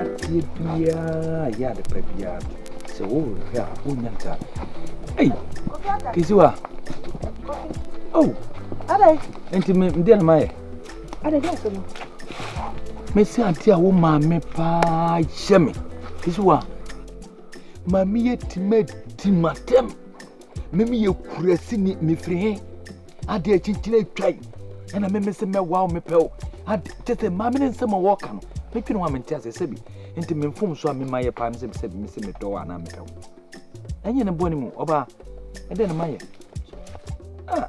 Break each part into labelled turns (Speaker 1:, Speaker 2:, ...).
Speaker 1: adeɛ biara yɛ ade pa biara sɛ wohwɛ a wonya nka ei kisiwa o
Speaker 2: nti medeɛ no
Speaker 1: mayɛ mɛsi ade a wo maame paa hyɛ me kisiwa ma meyɛ tima di matɛm me me yɛ kurasini me firi he adeɛ akyinkyini atwa yi ɛna me me se mɛwa wo mepɛ wo ade kyɛ sɛ maame ne nsɛm a wɔka no metwe ne ho a mente aseɛ sɛbi nti me mfom so a mema yɛ paa me sɛ sɛbi me se medɔ wo anaa mepɛ wo ɛnyɛ ne bɔne mu ɔbaa ɛdɛ ne ma yɛ ah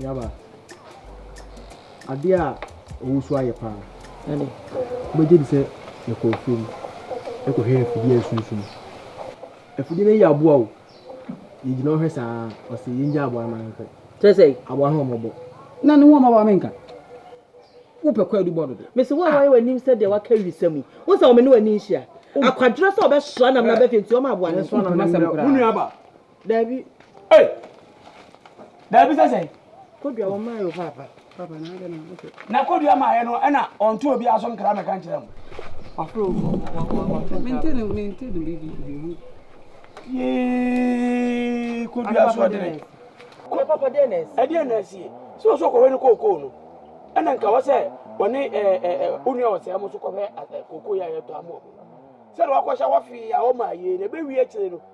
Speaker 3: Nuaba, adeɛ a ɔwosu ayɛ paa. Ɛne. Wobɛgye di sɛ yɛkɔ afuo mu kɔhwɛ afidie a ɛsunsum. Afidie no ayi aboa o. Yɛgyina hɔ hwɛ saa ɔse yɛngya aboa no ma yɛnkɔ. Kyerɛ sɛ. Aboa no ho
Speaker 2: mmɔbɔ.
Speaker 3: Na ne ho ɔmmɔbɔ a menka. Wopɛ kwaadu bɔ no de. Mese wo a woayɛ w'anim
Speaker 2: sɛ deɛ waka awisa mu yi. Wohu sɛ ɔmene w'ani nhyia. Akwadworɔ sɛ ɔbɛsoa nam no abɛfie nti ɔma aboa no. Ɛnsoa nam no mmerɛ. Mo nuaba, Dabi. Hey!
Speaker 4: Dabi sɛ sɛn? Kodua wɔn maa yɛ
Speaker 2: papa. Papa na adɛ na
Speaker 3: ɔkɛ. Na
Speaker 4: kodua maa yɛ no ɛna ɔnto obi aso nkra mɛka nkyerɛ mo. Wafro wafro. Mente
Speaker 3: no mente no bibi bibi. Yee
Speaker 4: kodua so ɔdene. Kodua papa dɛ
Speaker 2: na ɛsi. Ɛdeɛ na ɛsi.
Speaker 4: Sɛ ɔsɔ kɔwɛ no kookoo no. Ɛna nka wɔ sɛ wɔne ɛɛ ɛɛ onua ɔsɛ mo so kɔhwɛ kookoo yɛ ayɛ tɔ amoɔ. Sɛ wakɔhyɛ wɔfee a wɔma yie na ɛbɛwie akyire no.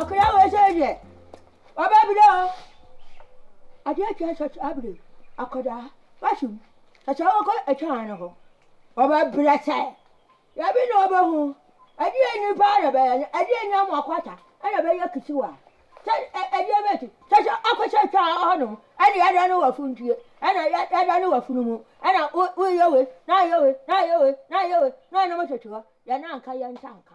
Speaker 2: Akwadaa wei sɛ deɛ waba
Speaker 5: abiri o adeɛ atua sɔsɔ abiri akwadaa wasi mu sɔsɔ wɔkɔ ɛtwan no ho wɔbɛ brɛ sɛ yɛbi na wɔbɛ ho ɛdeɛ nipa na bɛyɛ no ɛdeɛ ni amu akwata ɛna bɛyɛ kisiwa sɛ ɛdeɛ bɛ ti sɔsɔ akɔ sɛ ɛtwan hɔ nom ɛna yɛda no wɔ funtuo ɛna yɛda no wɔ funu mu ɛna wo woyɛ wei na ayɛ wei na ayɛ wei na ayɛ wei na ɔnam sɔsɔ hɔ yɛn anka yɛn nsa nka.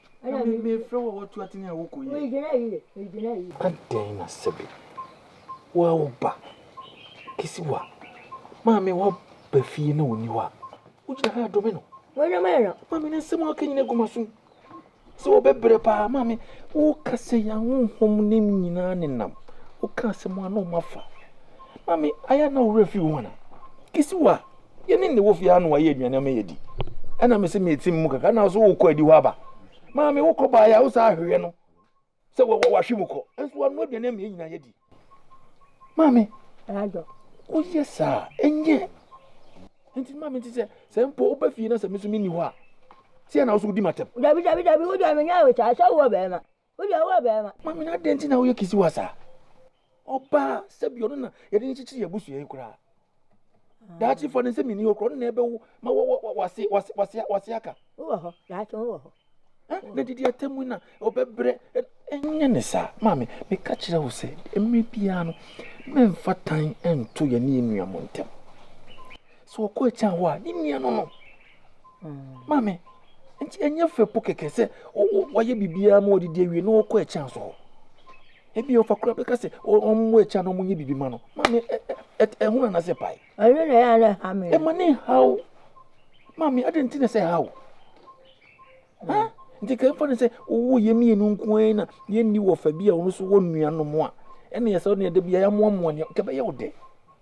Speaker 5: Adɛn na
Speaker 1: sɛbe woa wo ba kesi wo a maame wa ba fie na ɔnni hɔ a, wogyina ha dome no? Maame no
Speaker 5: nsɛm a ɔka nyina
Speaker 1: gu m'asom sɛ ɔbɛbrɛ paa. Maame woka sɛ yɛn ahonhom no nyina nenam woka asɛm a na ɔmafa. Maame ayɛ a na wo werɛ fi wo ho anaa? Kesi wo a. yɛne ne wɔ fie ha na wayɛ aduane ama yɛdi ɛna me se meti mu kakra na so wokɔ adi hɔ aba maame wokɔ baeɛ a wo saa ahwehwɛ no sɛ wahwe mu kɔ ɛnso wanoa aduane ama yɛ nyinaa yɛdi maame
Speaker 5: woyɛ saa
Speaker 1: ɛnyɛ nti maame nti sɛ sɛ mpo wobɛ fie na sɛ me so menni hɔ a sɛ na wo so wodi matɛm dabi dabi dabi wodeɛ
Speaker 5: menyɛ wo saa sɛ wowɔ bɛɛma Wo deɛ woyɛ barima. Maame no adɛn nti na woyɛ
Speaker 1: kisiwa saa? Ɔbaa sɛbi ɔno na yɛde no kyekyere yɛ abusua yi koraa. Ah. Daakye fa ne nsɛm nni hɔ koraa ɔno na ɛbɛwo ma wase wase wase wase aka. Wowɔ hɔ daakye
Speaker 5: wowɔ hɔ. Na didi
Speaker 1: atɛm mu na ɔbɛbrɛ ɛnyɛ ne saa maame meka kyerɛ wo sɛ mmerɛ biara no mɛmfa tan nto yɛne yɛ nua mu ntɛm. So ɔkɔ akyi ahɔ a ne nua no no. maame nti ɛnyɛ fɛ po kɛkɛ sɛ wɔyɛ biribiara ma wɔdidi awie na wɔkɔ ɛkyɛn so hɔ ebi ɔfa kura bɛka sɛ wɔn wɔ ɛkyɛn na wɔnyɛ biribi ma no maame ɛho na nasɛ pae. ɛno na ɛyɛ alɛ ha
Speaker 5: mi. ɛma ne ha o
Speaker 1: maame adi nti na sɛ ha o ha nti kɛn fa ne sɛ owó yɛ mmienu nko ara na yɛn ni wɔ fɛ bi a wɔn nso wɔ nnuanom a ɛna yɛ sɛ ɔne ɛde bi a yɛ amoamoa ne kɛbɛyɛ ɔdɛ.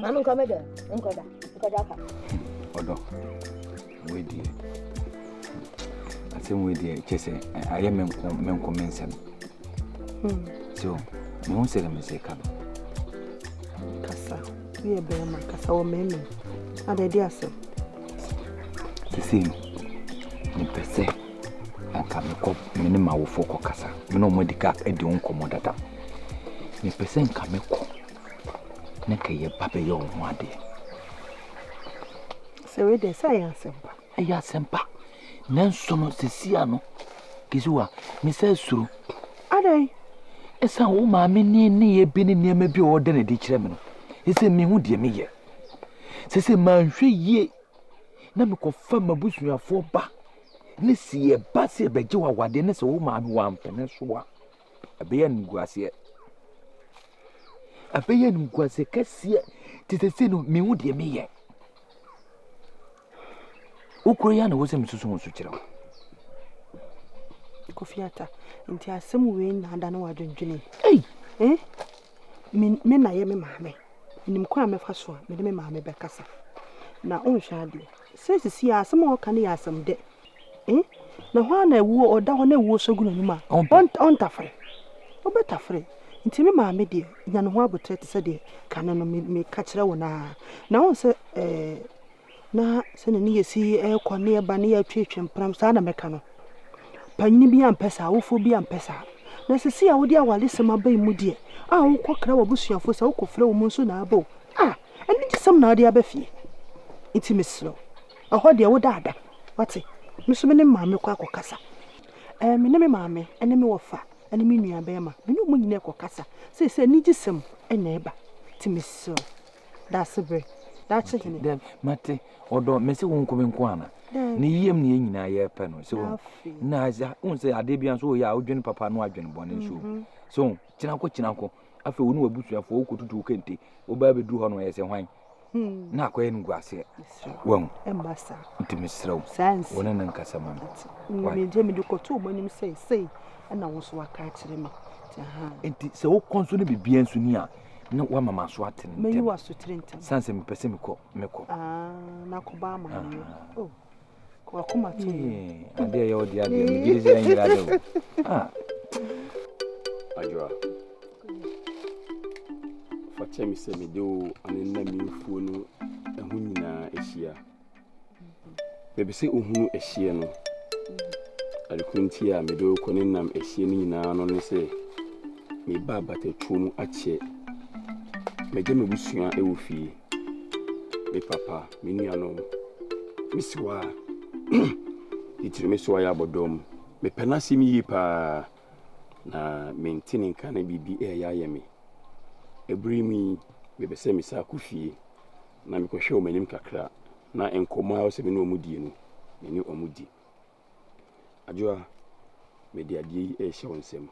Speaker 5: Maame nkɔ mɛdɛ nkɔ
Speaker 1: da nkɔ da ka. Ɔdɔ wei deɛ asɛm wei deɛ kyɛ sɛ ayɛ me nko me nko me nsɛm. Hmm. So me ho sɛ me sɛ ka no.
Speaker 2: Kasa yɛ bɛrima kasa wɔ mɛmɛ adɛ de asɛm.
Speaker 1: Sisi no mepɛ sɛ anka mekɔ me ne m'awofoɔ kɔ kasa me ne wɔn adi ka adi ho nkɔmmɔ dada mepɛ sɛ nka mekɔ na kɛ yɛba bɛyɛ wo ho adeɛ.
Speaker 2: Sɛ wei deɛ sɛ ɛyɛ asɛmpa. Ɛyɛ asɛmpa.
Speaker 1: Nanso no sesia no Kisiwa mesɛ suro. Adɛn?
Speaker 2: Ɛsan
Speaker 1: wo maame ne nneyɛ bi ne nneɛma bi a ɔda no adi kyerɛ me no. Ɛsɛ mehu deɛ meyɛ. Sɛ sɛ manhwɛ yie na mekɔfa m'abusuafoɔ ba ne sɛ yɛba sɛ yɛbɛgye wo awadeɛ ne sɛ wo maame wampene so a. Ɛbɛyɛ animguaseɛ. Ɛbɛyɛ animguaseɛ kɛseɛ te sɛ sei no menhu deɛ meyɛ. Wo kura yi ara na ɛwɔ sɛ mesusu ho so kyerɛ wo.
Speaker 2: Kofi Ata, nti asɛm wei na ada ne w'adwendwene. Ei! Eh?
Speaker 5: Me
Speaker 2: me na yɛ me maame. Menim kwan a mɛfa so a mede me maame bɛkasa. Na wonhwɛ adeɛ. Sɛ sisi a asɛm a ɔka no yɛ asɛm dɛ. Eh? Na hɔ ara na awuo ɔda hɔ na awuo sɔ gu n'anim a ɔntafere. Wobɛtafere. Nti me maame deɛ nya ne ho aboterɛ te sɛ deɛ kane no meka kyerɛ wo no ara. Na wohu sɛ eh, na sɛdeɛ ne yɛ si ɛrekɔ ne ɛba ne yɛ atwetwe mpram saa na mɛka no. Panyini bi ampɛ saa, awofoɔ bi ampɛ saa. Na sisi a wode awaresɛm aba yi mu deɛ, a wokɔkra w'abusuafoɔ sɛ wokɔfrɛ wɔn nso na aba o, ah, anigye sɛm na wode aba fie. Nti mesrɛ wo. Ɛhɔ deɛ wo da ada wate. Me nso me ne maame kɔ akɔ kasa ɛɛ me ne me maame ɛne me wɔfa ɛne me nua bɛɛma me ne ɔmo nyina ɛkɔ kasa seisei anigye sɛm ɛna ɛba ti me srɛw daase bere daakye hene. Dabi mate
Speaker 1: ɔdɔ me se wo nko me nko ana ne yam ne yɛ nyinaa yɛ pɛ no se wo na ɛza wo se adeɛ bi nso yɛ a wodwene papa no adwene bɔne nso mhm. so kyinako kyinako afei wo ne wabusuafoɔ wokɔtutu wo kente wobaa bɛduru hɔ no ɛsɛ hwan na akɔyɛ animguaseɛ wahu
Speaker 2: nti mesrɛ wo
Speaker 1: wo ne no nkasa
Speaker 2: ma me nti sɛ
Speaker 1: wokɔ nso ne biribiaa nso ni a na woama ma so atene ntɛm
Speaker 2: sane sɛ mepɛ sɛ mekɔ
Speaker 1: mekɔ
Speaker 2: ah, wakoma to no adeɛ yɛ ɔde
Speaker 1: adeɛ megye de sɛ ɛnyera dɛ o
Speaker 6: adwoa fa kyɛ me sɛ mede wo ane nna mefuo no ɛho nyinaa ahyia baabi sɛ wohunu ahyeɛ no adekoro nti a mede wo kɔ ne nam ahyeɛ no nyinaa no ne sɛ meba abatatuo mu akyɛ mɛgye mabusua ɛwɔ fie Me papa, me nuanom, me siwa a titiri me so a yɛ abɔdɔm. Mepɛ n'asɛm yie paa, na mente ne nka na biribi reyɛ ayɛ me. Ɛberɛ mu yi, mepɛ sɛ mesan akɔ fie na mekɔhwɛ wɔn anim kakra na nkɔmmɔ a wɔsɛ me ne wɔn die no, me ne wɔn di. Adwoa, mede adeɛ yi rehyɛ wo nsam.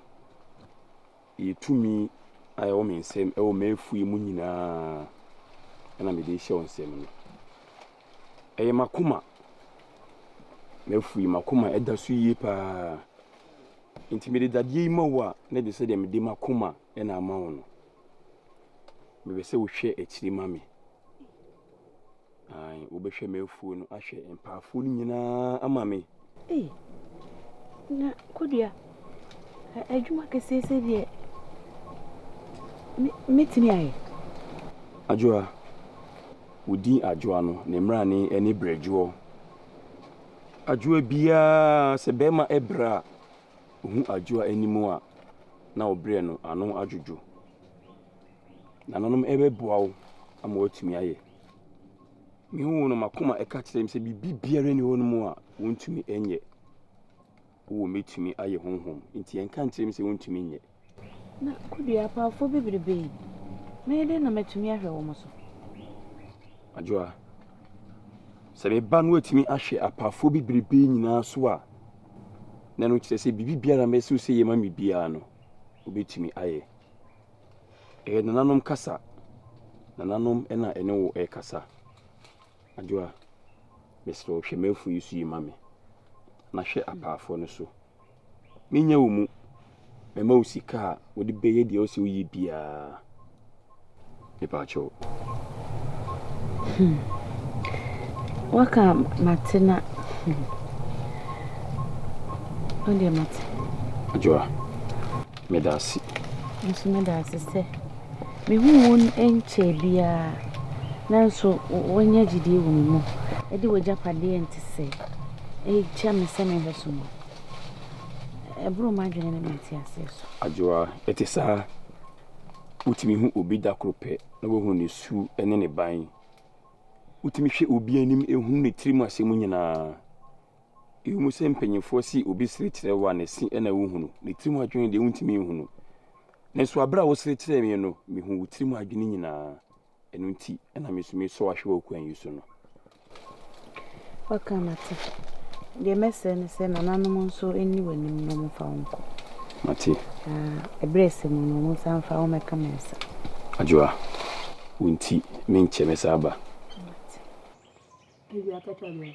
Speaker 6: Yi tumi a ɛwɔ me nsam wɔ m'afuw mu nyinaa na mede rehyɛ wo nsam no. Ɛyɛ m'akoma, m'afuw yi, m'akoma da so yie pa ara. Enti mede dadeɛ yi ma wo a, na ɛde sɛdeɛ mede m'akoma na ama wo no. Mepɛ sɛ wohwɛ akyiri ma me. Ae, wobɛhwɛ m'afuo no ahwɛ mpaafoɔ no nyinaa ama me. Ei,
Speaker 2: na Kodua, adwuma kɛseɛ sɛ deɛ mɛtumi ayɛ. Adwoa,
Speaker 6: wo din Adwoa no, ne mmrane ne Brɛdwoɔ. Adwoa biara, sɛ bɛrima brɛ a, ɔhu Adwoa anim a, na ɔbrɛ no ano adwodwo. Nananom bɛboa wo ama woatumi ayɛ. Me hu no m'akoma ɛka kyerɛ me sɛ biribi biara ni hɔ nom a wontumi nyɛ. Wowɔ mɛtumi ayɛ honhom nti ɛnka nkyerɛ me sɛ wontumi nyɛ. Na
Speaker 2: kodua apaafo bebrebe yi, mɛyɛ dɛn na matumi ahwɛ wɔn so?
Speaker 6: Adwoa, sɛ me ba no atumi ahwɛ apaafo bebrebe nyinaa so a, na no kyerɛ sɛ biribi biara mɛsɛ sɛ yɛ ma me biara no, wobɛtumi ayɛ. Ɛyɛ nananom kasa. Nananom na ɛne wo ɛkasa. Adwoa, mesrɛ wo hwɛ m'afunu yi so yi ma me, na hwɛ apaafoɔ no so. Menya wo mu. Mɛma wo sika a wode bɛyɛ deɛ wosɛ woyɛ biara. mepakyɛw. Hmm.
Speaker 2: Waka mate na. Hmm. Ɔdeɛ mate. Adwoa,
Speaker 6: meda ase. Nso
Speaker 2: meda ase sɛ mehu wo nkyɛ biara nanso woanya gyidie wɔ me mu ɛde w'agyapadeɛ nte sɛ ɛkyɛ me sɛ mehwɛ so mu ɛboro m'adwene ne mete aseɛ so. Adwoa, ɛte
Speaker 6: saa. Wotumi hu obi da koro pɛ na wohu ne su ne ne ban. Wotumi hwɛ obi anim hunu ne tirim asɛm nyinaa. Ɛwom sɛ mpanimfoɔ se obi sere kyerɛ wo a, ne se na wohunu. Ne tirim adwene deɛ wontumi nhunu. Nanso bere a wosere kyerɛɛ me no, mehuu wo tirim adwene nyinaa. Ɛno nti na metumi sɔ ahwɛ wɔ kwan yi so no.
Speaker 2: Woaka mate. Deɛ mɛsrɛ ne sɛ nananom nso nni w'anim na wɔmfa wo nkɔ. Mate.
Speaker 6: Na ɛberɛ
Speaker 2: ɛsɛ mu no, wɔnsan mfa wo mmɛka me nsa. Adwoa,
Speaker 6: wo nti menkyɛ mɛsan aba. Mate. Awia
Speaker 5: ka kyerɛ Adwoa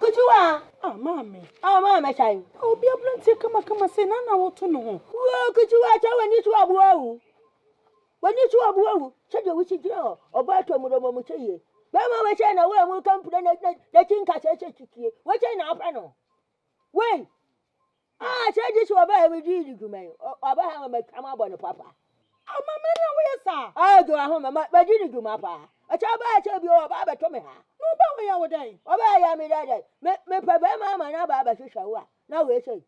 Speaker 5: Ketewa! Ah, Maame! Ah, Maame Kyan! Ah, obi aberanteɛ
Speaker 2: kamakama sei, na na woto no ho. Woo, Ketewa, kyɛ
Speaker 5: w'ani to aboa o! W'ani to aboa o! Kyɛ deɛ wosi gyina hɔ, ɔbɔ atɔ mu dɔmɔ mu kyɛ yie. Bɛrima wei kyɛn na wei mu ka mpire na na na ti nkasɛɛ kyɛ titie. Wei kyɛn na apɛ no. Wei! Ah, kyɛ gye sɛ ɔbɛha me gye di dwuma yi. Ɔbɛha ma matwa mu abɔ ne papa. Ama me na
Speaker 2: woyɛ saa. Ah, gye wɔ ho ma magye
Speaker 5: di dwuma paa. Ɛkyɛ ɔbɛha kyɛ bi ɔba abɛto me ha. Na ɔba wɔyɛ wo dɛn?
Speaker 2: Ɔba yɛ me dɛ dɛ.
Speaker 5: Me mepɛ bɛrima ama na aba abɛhwehwɛ wo a. Na wei sei.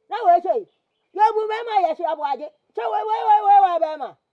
Speaker 5: Na wei sei. Yɛbu bɛrima yɛ so aboagye. Kyɛ wei wei wei wei wei bɛrima.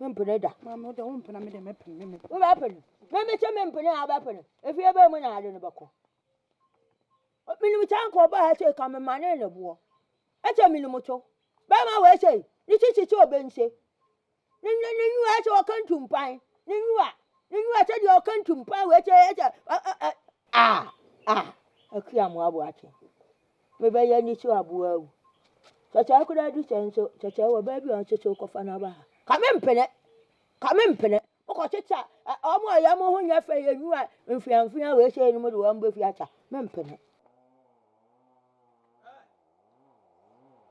Speaker 5: mempene da maame wode wo mpena me de
Speaker 2: mɛpene me wobɛpene memekyɛ
Speaker 5: mempene a wobɛpene efie bɛɛ mu na ade no bɛkɔ menim kyɛ nka ɔbaa ha sei ka mema ne ne boɔ ɛkyɛ menim to bɛma wɔ ɛsei ne kyekyekye ɔbɛnse ne ne ne nyiwa ɛkyɛ ɔka ntumpan ne nyiwa ne nyiwa kyɛ deɛ ɔka ntumpan wɔ ɛkyɛ ɛkyɛ a a akua mo aboakye mebɛyɛ ne so aboa wo. Sɛ saa koraa du sɛ nso, sɛ sɛ wɔ baabi a ɔnso so kɔfa no aba ha. Ka me mpene, ka me mpene. Mokɔ teta ɔmo a yɛ mo ho nyɛ fɛ yɛ nua mfeamfea wei sɛ no mo de wɔn bɛfi ata me mpene.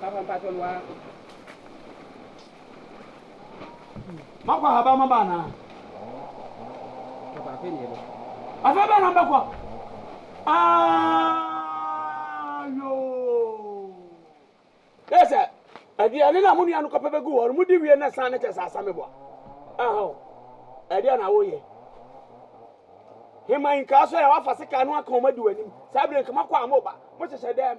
Speaker 7: Papa
Speaker 4: mpatsɔ no waa. Makɔ ahaban maba anaa?
Speaker 7: Papa afei na yɛbɛkɔ. Afei bɛn na mbɛkɔ?
Speaker 4: Aayoo! Yɛ sɛ aduane no a mo nua no kɔpɛ bɛgu hɔ no modi wie na san no kyɛ sɛ asame boa. Aha o, ɛdeɛ na woyɛ. Hema yi nkaa so yɛ wafa sekaa no aka wɔn adi w'anim saa bere nka makɔ a mo ba mo hyehyɛ dɛm.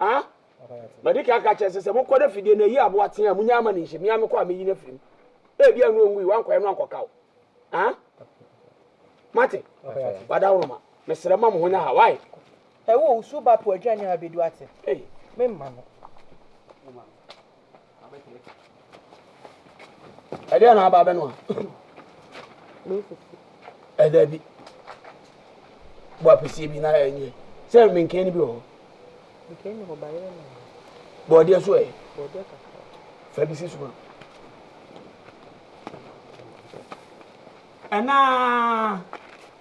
Speaker 4: A Madi kan aka akyerɛ sɛ sɛ mokɔ na fidie no ayi aboa tea a, monnya mma no nhyɛ mu. Me ara mekɔ a mɛyi no afiri mu. Ebia ɛno ɔngui, woankɔyɛ no ankɔka wo. A Moate? Wadawonoma, mesrɛ mma mo ho nyɛ ha. Wai? Ɛwo, wo su
Speaker 7: ba po aduane a abɛdu ate. Ei. Memma no.
Speaker 4: Ɛdeɛ na aba abɛ no a. Ɛda bi. Bɔ apɛsie bi na ɛnyɛ. Sɛ menkee no bi wɔ hɔ. Menkee no hɔ
Speaker 7: ba yɛ na. Bɔɔdeɛ
Speaker 4: so ɛ. Bɔɔdeɛ kakra.
Speaker 7: Fa bi si so ma.
Speaker 4: Ɛnaa.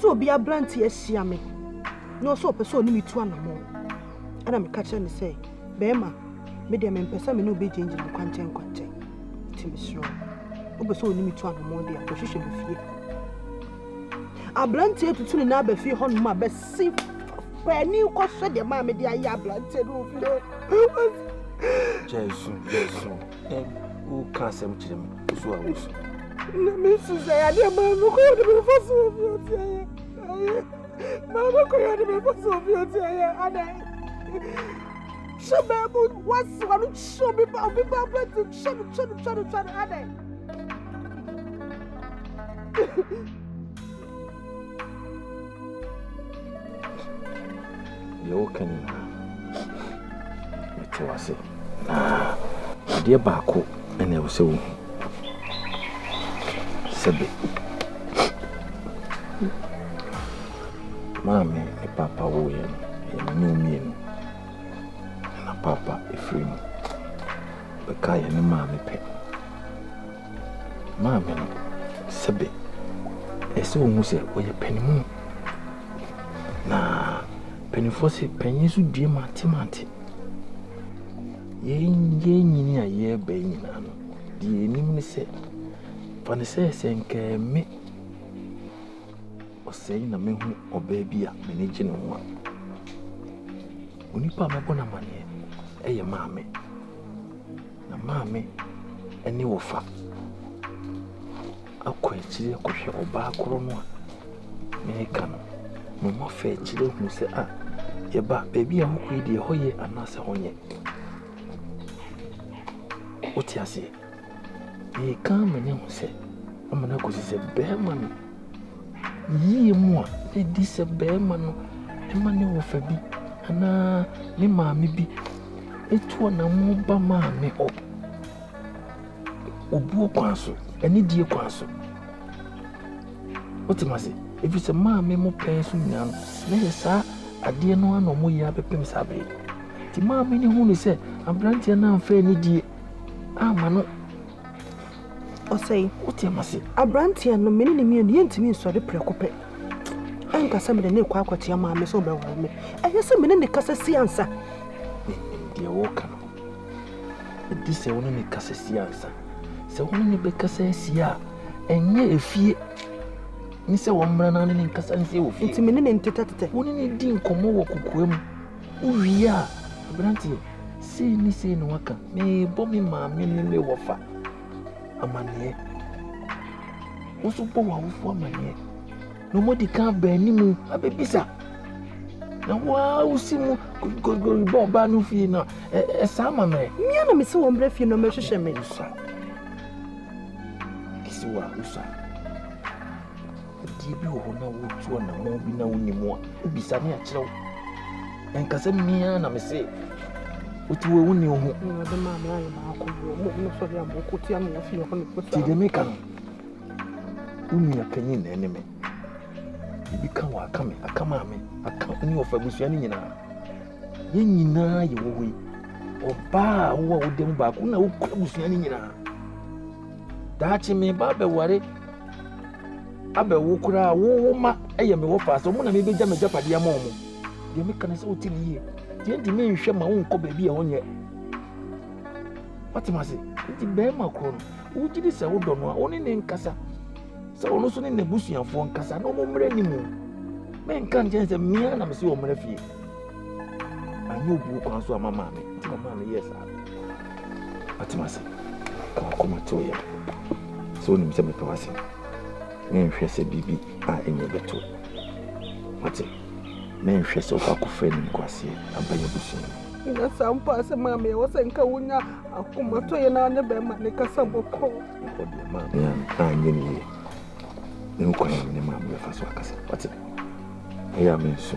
Speaker 2: sɛ obi aberante ahyia me na ɔsɛ ɔpɛ sɛ ɔne me tu anammɔn ɛna meka kyerɛ no sɛ bɛrima me deɛ mempɛ sɛ me ne wobɛgyinagyina no kwankyɛn kwankyɛn nti mesrɛ wopɛ sɛ ɔne me tu anammɔn deɛ akɔhwehwɛ me fie aberanteɛ tutu ne na aba fie hɔ nom a bɛsi paani kɔhwɛ deɛ maa mede ayɛ aberanteɛ no wɔ fie
Speaker 1: woka asɛm kyerɛ me wosu a wosu na mesu
Speaker 2: sɛ adeɛ maa no kɔyɛ de mefa so wɔ fie ɔteayɛ ayɛ maa no kɔyɛ de mefa so wɔ fie ɔteayɛ adɛn hyɛ baabu wasi wa no kyɛ obi ba obi ba abɛti kyɛ no kyɛ no kyɛ no kyɛ no adɛn
Speaker 1: Deɛ woka nyinaa, mete wo ase. Na adeɛ baako na ɛwɔ sɛ wohu. Sɛbe, maame ne papa woyɛ no, ɛyɛ me ne mmienu. Na papa ɛfiri mu bɛka yɛ ne maame pɛ. Maame no, sɛbe ɛsɛ sɛ ohu sɛ ɔyɛ panimu, na mpanimfoɔ se panyin so due mantemante. Yɛn yɛn nyini a yɛreba yi nyinaa no, deɛ yɛnim ne sɛ fa ne sɛ sɛ nkaa me ɔsɛe na mehu ɔbaa bi a m'ani gye ne ho a onipa a mɛbɔ no amanneɛ ɛyɛ maame. Na maame ne wɔfa akɔ akyire akɔhwɛ ɔbaa korɔ no a mereka no. Na wɔafa akyire ahunu sɛ a, yɛn ba, baabi a wokɔ yi deɛ, ɛhɔ yɛ anaasɛ ɛhɔ nyɛ. Wote aseɛ? Deɛ ɛka amena hu sɛ, amena kɔsi sɛ barima no. yiyie mu a, ɛdi sɛ barima no ma ne wɔfa bi anaa ne maame bi tu anammɔn ba maame hɔ, obuo kwan so, anidie kwan so. Wote me ase? Ɛfiri sɛ maame mo pɛn so nyinaa no, na ɛyɛ saa adeɛ no ara na wɔyɛ abɛpem saa bere. Nti maame no hunu sɛ aberanteɛ no amfa anidie amma no
Speaker 2: Ɔsɛe. Wote m'ase.
Speaker 1: Aberanteɛ no, me
Speaker 2: ne no mmienu, yɛntumi nsɔre prɛko pɛ. Ɛnka sɛ mede no rekɔ akɔkyea maame sɛ ɔbɛware me. Ɛyɛ sɛ me ne no kasa si ansa. Menim
Speaker 1: deɛ woka no. Ɛdi sɛ wo ne no kasa si ansa. Sɛ wo ne no bɛkasa asie a, ɛnyɛ efie ne sɛ wɔmmra na ne ne nkasa nsie wɔ fie. Nti me ne no ntetɛtetɛ.
Speaker 2: Wo ne no di nkɔmmɔ
Speaker 1: wɔ kokoa mu. Wowie a, aberanteɛ, sei ne sei na waka, merebɔ me maame ne me wɔfa amanneɛ. Wo nso bɔ w'awofoɔ amanneɛ. Na wɔadi kan aba anim abɛbisa. Na wo ara wosi mu kokorikori bɔ ɔbaa no fie no a, ɛsaa ma mmerɛ. Mmea na mesi wɔn mmerɛ
Speaker 2: fie no mɛhwehwɛ me. Wosa.
Speaker 1: Kisi wo a, wosa. Adeɛ bi wɔ hɔ na wotu anammɔn bi na wonni mu a, wobisa me akyerɛ wo. Ɛnka sɛ me ara na mese wotu wɔ wonni wo ho. Awurade maa me ayɛ
Speaker 2: baako bi wɔ mo mo sɔre a mokɔ tia me wɔ fie hɔ no. Ti deɛ meka no,
Speaker 1: wo nua panyin na ɛne me. Ebi ka wɔ aka me, aka maa me, aka ne ɔfa abusua no nyinaa. Yɛn nyinaa yɛ wɔ hɔ yi. Ɔbaa a wowɔ a wodam baako na wokura abusua no nyinaa. Daakye me ba bɛware abɛwo koraa wo wo ma ɛyɛ me wɔ paa sɛ ɔmo na mebɛgya m'agyapadeɛ ama ɔmo deɛ meka no sɛ wote ne yie deɛ nti menhwɛ ma wonkɔ baabi a wonyɛ watem ase nti bɛrima korɔ no wogye di sɛ wodɔ no a wone ne nkasa sɛ ɔno nso ne n'abusuafoɔ nkasa na ɔmo mmerɛ ne mu menka nkyɛn sɛ mmea na mese ɔmmerɛ fie Anyɛ obu nko ara nso ama maame nti na maame yɛɛ saa. Atem ase. Ɛwɔ akoma tew yɛ. Sɛ onim sɛ mepɛ w'ase. Menhwɛ sɛ biribi a ɛnyɛ bɛto. Wate? Menhwɛ sɛ wokɔ akɔfrɛ ne nkoaseɛ aba yɛ abusua mu. Nyɛ saa mpo
Speaker 2: a sɛ maame ɛwɔ sɛ nka wonya akomatɔ yɛ na ne bɛrima ne kasa bɔkɔ. Ɛhɔ deɛ maame
Speaker 1: a anyɛ ne yie. Ne nkwan ne maame bɛfa so akasa. Wate? Ɛyɛ a menso.